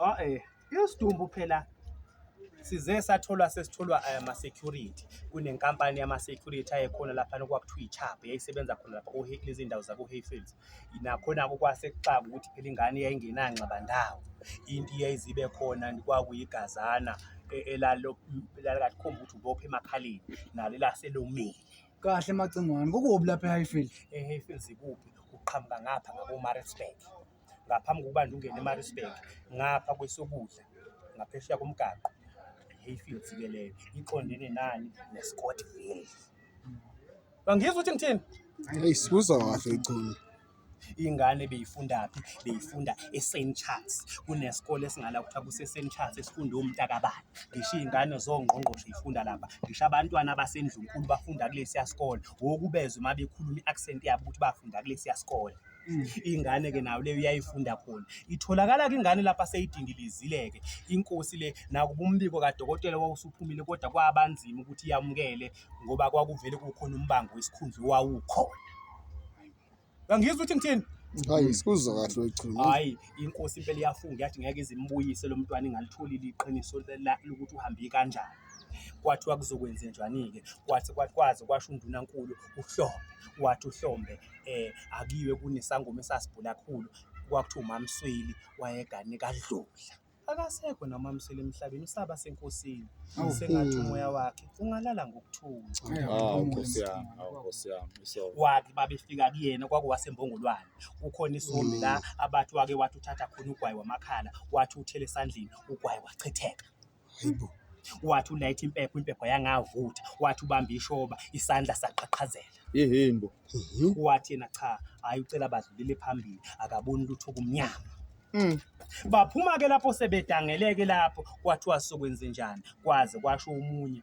Ae isidumbu phela size satholwa sesitholwa eh, ama-security kunenkampani yama-security ayekhona laphana okwakuthiwa i-chab yayisebenza khona lapha ohe- kulezi ndawo zaku-hayfields nakhona-ko kwasekuxaka ukuthi phela ingane yayingenangxabandawo into iyayizibe khona kwakuyigazana e- elalo- elalikakhomba ukuthi ubophe emakhaleni nalo elaselomile kahle macingwane kukubi lapha e-highfield e-hayfields ikuphi uqhamuka ngapha ngabomaritzburg ngaphambi kokuba nje ungene eMaritzburg ngapha kwesokudla ngaphesheya komgaqo iHayfields ke leyo iqondene nani neScottville bangizwa ukuthi ngithini hey sibuza kahle ichunu ingane beyifundaphi beyifunda eSaint Charles kunesikole esingala kuthiwa kuseSaint Charles esifunda umntakabani ngisho iy'ngane zongqongqoshe ifunda lapha ngisho abantwana abasendlunkulu bafunda kulesiya sikole wokubezwa uma bekhuluma i-accent yabo ukuthi bafunda kulesiya sikole ingane ke nayo leyo iyayifunda khona itholakala ke ingane lapha seyidingilizile-ke inkosi le nakuba umbiko kadokotela wawusuphumile kodwa kwabanzima ukuthi yamukele ngoba kwakuvele kukhona umbango wesikhundla owawukhona angizwa ukuthi ngithini hayi sikuzwa kahle wechuma hayi inkosi impela iyafunga yathi ngeke izimbuyise lo mntwana ingalitholi liqiniso lokuthi uhambe kanjani Kwathiwa kuzokwenzenjwani-ke? Kwathi kwaze kwasho uNdunankulu uHlombe, wathi uHlombe akuyiwe kunesangoma esasibhula kakhulu, kwakuthiwa uMaMsweli wayegane kaDludla. Akasekho naye uMaMsweli emhlabeni, usaba senkosini. Sengathi umoya wakhe ungalala ngokuthula. Hawu Nkosi yami, hawu Nkosi yami, isono. Wathi babefika kuyena kwakuwasembongolwane kukhona isombi la abathi wake wathi uthatha khona ugwayi wamakhala wathi uthele esandleni ugwayi wachitheka Hayi bo. Wathi ulayitha impepho, impepho yangavutha. Wathi ubamba ishoba, isandla saqhaqhazela. Yehheni bo. Wathi yena cha, hhayi ucela badlulele phambili, akaboni lutho kumnyama. Baphuma-ke lapho sebedangeleke lapho, kwathiwa sokwenzenjani, kwaze kwasho omunye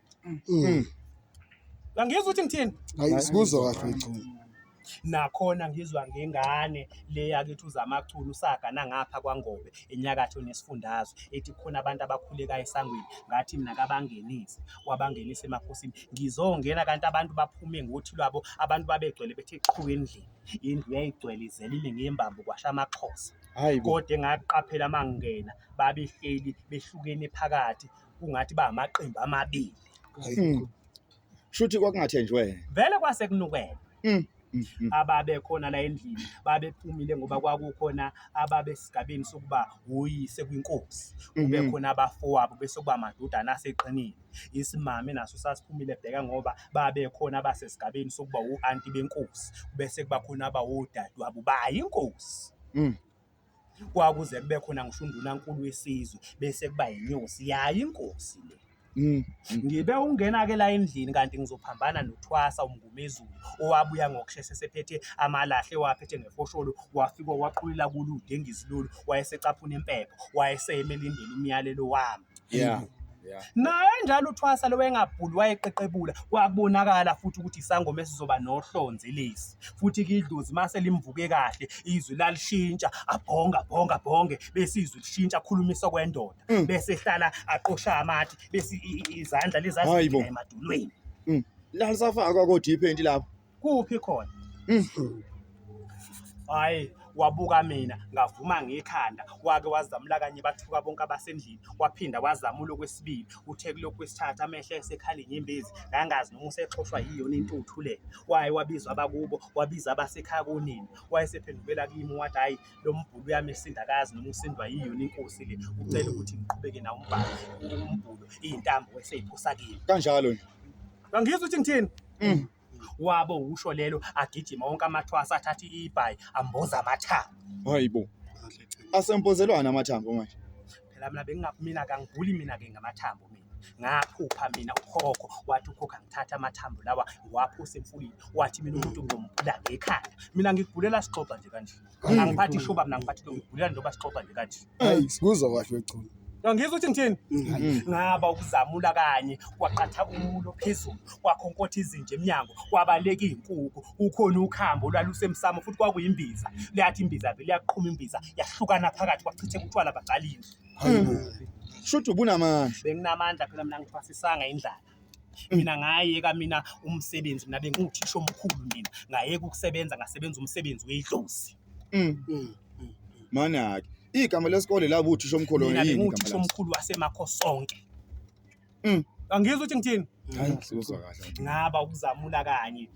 Mm. Angizwa ukuthi ngithini. Hayi sikuzwa kahle uChuma. Nakhona ngizwa ngengane le yakithi uZamachunu usaga nangapha kwaNgobe enyakatho nesifundazwe ethi khona abantu abakhuleka esangweni ngathi mina kabangenise wabangenisa emakhosini ngizongena kanti abantu baphume ngothi lwabo abantu babegcwele bethe qhu endlini indlu yayigcwele izelile ngembambo kwasha amaxhosa Hayi bo. kodwa engaqaphela mangingena babehleli behlukene phakathi kungathi ba amaqembu amabili Mm. Shuthi kwakungathenjwe. vele kwase kunukela Mm. Mm. Mm. ababekhona la endlini babephumile ngoba kwakukhona ababesigabeni sokuba woyise kwinkosi Mhm. kube khona abafowabo bese kuba amadodana aseqinile isimame naso sasiphumile bheka ngoba babekhona abasesigabeni sokuba u-anti benkosi bese kuba khona abawodadewabo bayinkosi Mm. Kwakuze kube khona ngisho undunankulu wesizwe bese kuba yinyosi yayo inkosi le. Mm. Ngibe ukungena-ke la endlini kanti ngizophambana noThwasa uMngumezulu owabuya ngokusheshe esephethe amalahle ewaphethe ngefosholo wafika waqulula kulude engizilulu wayesecaphuna impepho wayeseyeme elindele umyalelo wami. yeah yeah naye njalo uthwasa lo wayengabhuli wayeqeqebula kwakubonakala futhi ukuthi isangoma esizoba nohlonze lesi futhi ke idlozi mase limvuke kahle izwi lalishintsha abhonga bhonga bhonge bese izwi lishintsha khulumisa kwendoda Mm. bese ehlala aqosha amathi bese i- i- izandla Hayi bo. lezazigcina emadolweni lalisafakwa kodwa iphenti lapho kuphi khona Mhm. hayi wabuka mina ngavuma ngekhanda wake wazamula kanye bathuka bonke abasendlini waphinda wazamula okwesibili uthe kulokhu kwesithathu amehlo esekhala inyembezi ngangazi noma usexhoshwa yiyona intuthu le waye wabizwa abakubo wabiza abasekhaya kunini wayesephendukela kimi wathi hhayi lo mbhulu uyamesinda kazi noma usindwa yiyona inkosi le ucela ukuthi ngiqhubeke nawo umbhalo umbhulu iyintambo eseyiphosa kimi kanjalo nje Angizwa ukuthi ngithini. Mm. Wabo usho lelo agijima wonke amathwasa athatha ibhayi amboza amathambo. Hayibo. Asempozelwana amathambo manje. Phela mina bengingakmina kangiguli mina ke ngamathambo mina. Ngaphupha mina ukhokho wathi ukhokho angithatha amathambo lawa ngiwaphose emfuleni wathi mina umuntu ngizomgula ngekhanda. Mina ngigulela sixoxa nje kanjena. Angiphathi ishuba mina ngiphathi ngigulela njengoba sixoxa nje kanje. Ayi sikuzwa kahle wechulu. Ngizwa ukuthi ngithini? Mm. Ngaba ukuzamula kanye kwaqatha umulo phezulu kwakhonkotha izinja emnyango kwabaleka izinkukhu ukhona ukhambo lwalusemsamo futhi kwakuyimbiza liyathi imbiza vele yaqhuma imbiza yahlukana phakathi kwachithe utshwala baqalile. Hayibo. Shuthi ubunamandla. Benginamandla phela mina ngithwasisanga indlala. Mina ngayeka mina umsebenzi mina bengiwuthisha omkhulu mina ngayeka ukusebenza ngasebenza umsebenzi wedlozi. Mm. Mm. Manake. Igama lesikole labo uthisha omkhulu Mina yini igama bengiwuthisha laso? omkhulu wasemakho sonke. Mm. Angizwa ukuthi ngithini? Hayi, sikuzwa kahle. Ngaba ukuzamula kanye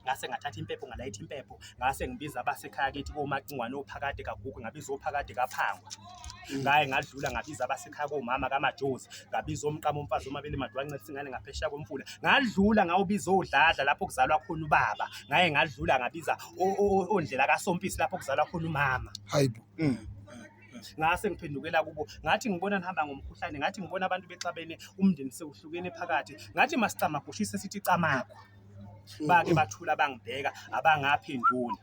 ngase ngathatha impepho ngalayitha impepho ngase ngibiza abasekhaya kithi komacingwane ophakade kagugu ngabiza ophakade kaphangwa ngaye ngadlula ngabiza abasekhaya komama kamajozi ngabiza omqama umfazi omabili madwa ncela singane ngaphesheya komfula ngadlula ngawubiza odladla lapho kuzalwa khona ubaba ngaye ngadlula ngabiza ondlela kasompisi lapho kuzalwa khona umama hayibo mm. ngase ngiphendukela kubo ngathi ngibona nihamba ngomkhuhlane ngathi ngibona abantu bexabene umndeni sewuhlukene phakathi ngathi masicamagushise sithi camakho bake bathula bangibheka abangaphenduli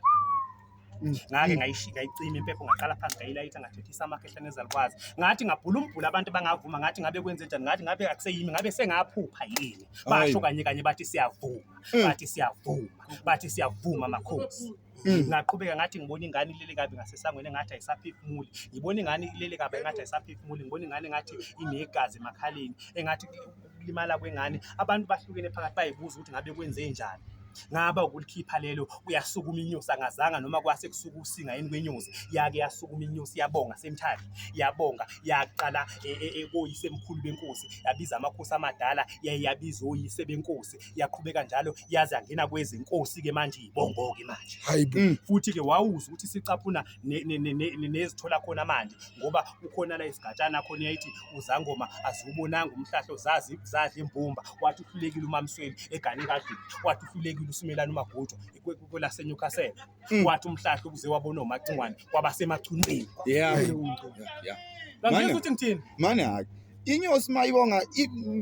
ngake ngayishi- ngayicima impepho ngaqala phansi ngayilayitha ngathethisa amakhehla nezalukwazi ngathi ngabhula umbhula abantu bangavuma ngathi ngabe kwenze njani ngathi ngabe akuseyimi ngabe sengaphupha yini basho Ayi. kanye kanye bathi siyavuma bathi siyavuma bathi siyavuma makhosi Mm. ngaqhubeka ngathi ngibona ingane ilele kabi ngasesangweni engathi ayisaphefumuli ngibona ingane ilele kabi engathi ayisaphefumuli ngibona ingane engathi inegazi emakhaleni engathi ukulimala kwengane abantu bahlukene phakathi bayibuza ukuthi ngabe kwenze njani ngaba ukulikhipha lelo uyasukuma inyosi angazanga noma kwase kusuka usinga yini kwenyosi yake yasukuma inyosi yabonga semthatha yabonga yaqala e, e, e, koyise mkhulu benkosi yabiza amakhosi amadala yabiza oyise benkosi yaqhubeka njalo yaze yangena kwezinkosi ke manje ibongoke manje hayi bo Mm. futhi ke wawuza ukuthi sicaphuna ne- ne- ne- ne- ne- nezithola khona manje ngoba ukhona la isigatshana khona yayithi uzangoma aziwubonanga umhlahlo zazi zadla imbumba wathi uhlulekile umamsweli egane kadlini wathi uhlulekile usumelana umagujwa kwelasenyukasela Mm. wathi umhlahla ukuze wabona omacingwane kwabasemachunwini yeah yeah ngangizwa ukuthi ngithini mane hake inyosi mayibonga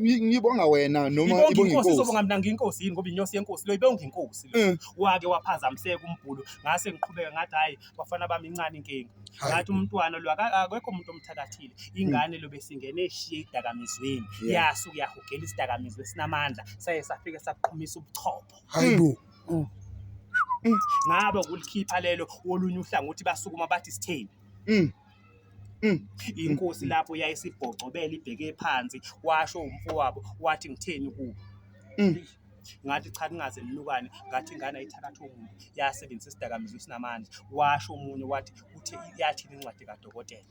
ngibonga wena noma ibonga inkosi izobonga mina nginkosi yini ngoba inyosi yenkosi lo ibonga inkosi lo mm. wake waphazamiseka umbhulu ngase ngiqhubeka ngathi hayi bafana bami incane inkinga ngathi umntwana lo akekho umuntu omthakathile ingane lo besingene eshiye idakamizweni yasu kuyahugela isidakamizwe sinamandla saye safike saqhumisa ubuchopho hayibo mm. Mm. Mm. ngabe ukulikhipha lelo wolunye uhlangothi basukuma bathi sithembi Mm. Mm. inkosi lapho yayisibhocobela ibheke phansi washo umfowabo wathi ngitheni kubo Mm. ngathi cha kungaze nilukane ngathi ingane ayithakathi omuntu yasebenzisa isidakamizwa esinamandla washo omunye wathi uthe yathini incwadi kadokotela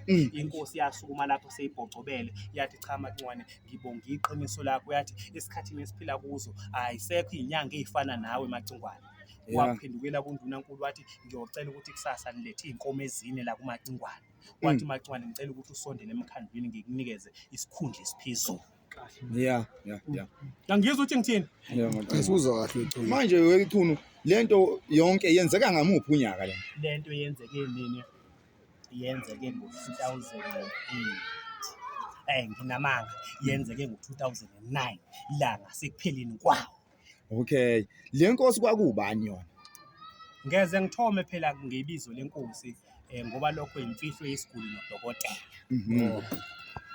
Mm. inkosi yasukuma lapho seyibhocobele yathi cha macwane Ngibonga iqiniso lakho yathi esikhathini esiphila kuzo ayisekho izinyanga ezifana nawe Macingwane. Yeah. Waphendukela kundunankulu wathi ngiyocela ukuthi kusasa nilethe izinkomo ezine la kuMacingwane. Wathi Macingwane ngicela ukuthi usondele emkhandlwini ngikunikeze isikhundla esiphezulu. Yeah, yeah, yeah. Ngangizwa ukuthi ngithini? Yeah, ngicela. Asuzwa kahle uChunu. Manje weChunu lento yonke yenzeka ngamuphi unyaka lento? Lento yenzeke nini? yenzeke ngo-2008 nginamanga yenzeke ngo-2009 ilanga sekupheleni kwawo okay le nkosi kwakubani yona ngeze ngithome phela ngebizo lenkosi um ngoba lokho yimfihlo yesiguli nodokotela mhm.